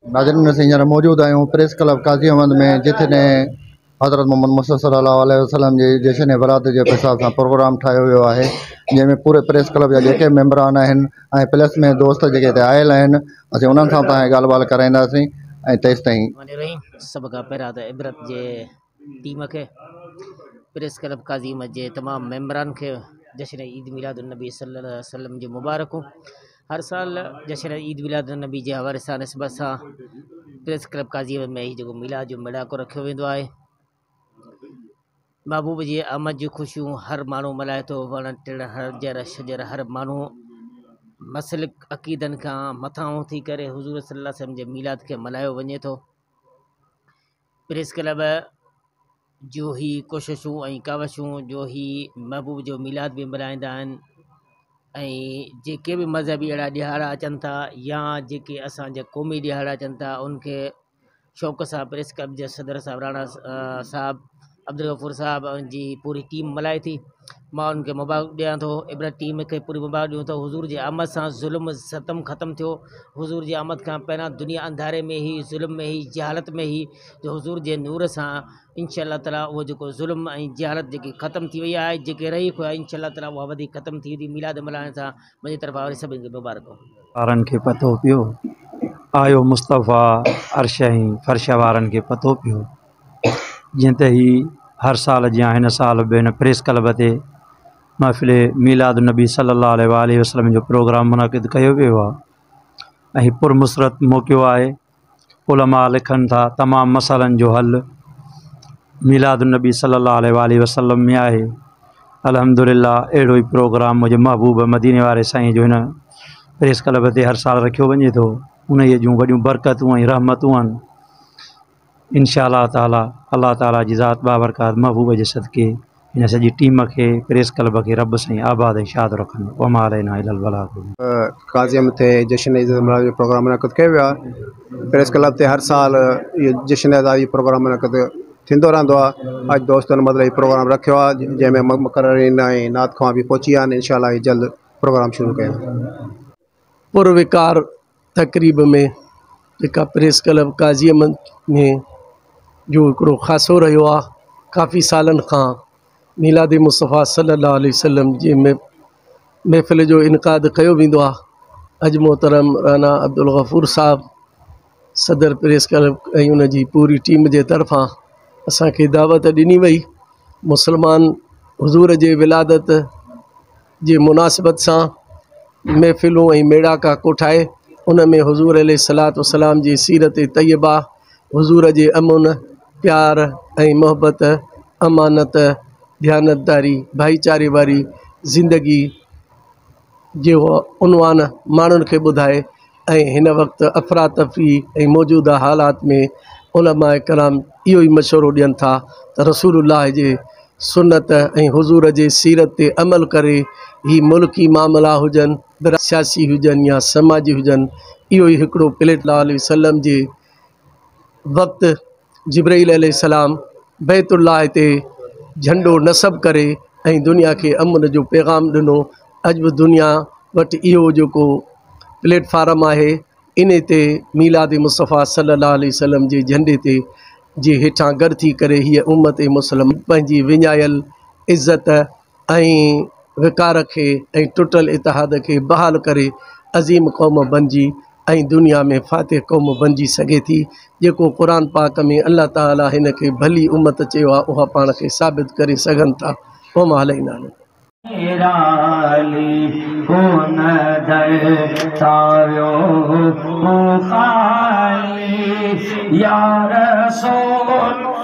ناظرين اسين هينئر موجود آهيون پريس ڪلب قاضي احمد ۾ جتي حضرت محمد مصطفيٰ صلي الله عليه وسلم جي جشن برات جي حساب سان پروگرام ٺاهيو ويو آهي جنهن ۾ پوري پريس ڪلب جا جيڪي به ميمبران آهن ۽ پلس ۾ دوست جيڪي هتي آيل آهن اسين انهن سان به تهان کي ڳالهه ٻالهه ڪرائينداسين ۽ تيستائين ٽيم کي پريس ڪلب قاضي مسجد جي تمام ميمبران کي جشن عيد ميلاد النبي صلّي الله عليه وسلّم جون مبارڪون ھر سال جشن عيد ميلاد النبي جي حوالي سان نسبت سان پريس ڪلب قاضي مسجد ۾ ھي جيڪو ميلاد جو ميڙاڪو رکيو ويندو آھي محبوب جي آمد جون خوشيون ھر ماڻھو ملھائي ٿو وڻ ٽڻ ھر جر شجر ھر ماڻھو مسلڪ عقيدن کان مٿاھون ٿي ڪري حضور صلّي الله عليه وسلّم جي ميلاد کي ملھايو وڃي ٿو پريس ڪلب جون هي ڪوششون ۽ ڪاوشون جو هي محبوب جو ميلاد به ملهائيندا آهن ۽ جيڪي به مذهبي اهڙا ڏهاڙا اچن ٿا يا جيڪي اسان جا قومي ڏهاڙا اچن ٿا ان کي شوق سان پريس ڪلب جا صدر صاحب راڻا صاحب عبدالغفور صاحب ۽ جي پوري ٽيم ملائي ٿي مان انهن کي مبارڪ ڏيان ٿو عبرت ٽيم کي پوري مبارڪ ڏيون ٿو حضور جي آمد سان ظلم ستم ختم ٿيو حضور جي آمد کان پهريان دنيا انڌاري ۾ هئي ظلم ۾ هئي جهالت ۾ هئي جو حضور جي نور سان انشاء الله تعالٰي اهو جيڪو ظلم ۽ جهالت جيڪي ختم ٿي وئي آهي جيڪي رهي خدا انشاء الله تعالٰي اها وڌيڪ ختم ٿي ويندي ميلاد ملهائڻ سان منهنجي طرفان وري سڀني کي مبارڪ هو وارن کي پتو پيو آيو مصطفيٰ عرش ۽ فرش وارن کي پتو پيو جيئن ته هي هر سال جيان هن سال به هن پريس ڪلب تي محفل ميلاد النبي صلي الله عليه و آله وسلم جو پروگرام منعقد ڪيو ويو آ ۽ هي پر مسرت موقعو آهي علماء لکن ٿا تمام مسئلن جو حل ميلاد النبي صلي الله عليه و آله وسلم ۾ آهي الحمد لله اهڙو ئي پروگرام منهنجي محبوب مديني واري سائين جو هن پريس ڪلب تي هر سال رکيو وڃي ٿو انهيء جون وڏيون برڪتون ۽ رحمتون آهن انشاء الله تعالٰي الله تعالٰي جي ذات بابرڪات محبوب جي صدقي هن سڄي ٽيم کي پريس ڪلب کي رب سائين آباد ۽ شاد رکن وما علينا الا البلاغ قاضيء مٿي جشن عيد ملهاڻ جو پروگرام منعقد ڪيو ويو آهي پريس ڪلب تي هر سال اهو جشن عيد جو پروگرام منعقد ٿيندو رهندو آهي اڄ دوستن مطلب هي پروگرام رکيو آهي جنهن ۾ مقررين ۽ نعت خوان به پهچي ويا آهن انشاء الله هي جلد پروگرام شروع ڪيا پروقار تقريب ۾ جيڪا پريس ڪلب قاضي احمد ۾ جو هڪڙو خاصو رهيو آ ڪافي سالن کان ميلاد مصطفيٰ صلّي الله عليه وسلّم جي م محفل جو انعقاد ڪيو ويندو آ اڄ محترم رانا عبدالغفور صاحب صدر پريس ڪلب ۽ ان جي پوري ٽيم جي طرفان اسانکي دعوت ڏني وئي مسلمان حضور جي ولادت جي مناسبت سان محفلون ۽ ميڙاڪا ڪوٺائي ان ۾ حضور عليه الصلوة والسلام جي سيرت طيبه، حضور جي امن، پيار ۽ محبت، امانت، ديانتداري، ڀائيچاري واري زندگي جي عنوان ماڻهن کي ٻڌائي، ۽ هن وقت افراتفري ۽ موجوده حالات ۾ علماء ڪرام اهو ئي مشورو ڏين ٿا ته رسول الله جي سنت ۽ حضور جي سيرت تي عمل ڪري هي ملڪي معاملا هجن برا سياسي هجن يا سماجي هجن اهو ئي هڪڙو پليٽ الله عليه وسلم جي وقت جبرئيل عليه السلام بيت الله تي جهنڊو نصب ڪري ۽ دنيا کي امن جو پيغام ڏنو اڄ به دنيا وٽ اهو جيڪو پليٽ فارم آهي ان تي ميلاد مصطفيٰ صلي الله عليه وسلم جي جهنڊي تي جي هيٺان گڏ ٿي ڪري هيء امت مسلمه پنهنجي وڃايل عزت ۽ وقار کي ۽ ٽٽل اتحاد کي بحال ڪري عظيم قوم بنجي ۽ دنيا ۾ فاتح قوم بنجي سگهي ٿي جيڪو قرآن پاڪ ۾ الله تعالي هن کي ڀلي امت چيو آهي اها پاڻ کي ثابت ڪري سگهن ٿا وما علينا الا البلاغ. نرالي ڪون در تان ويو هو خالي يا رسول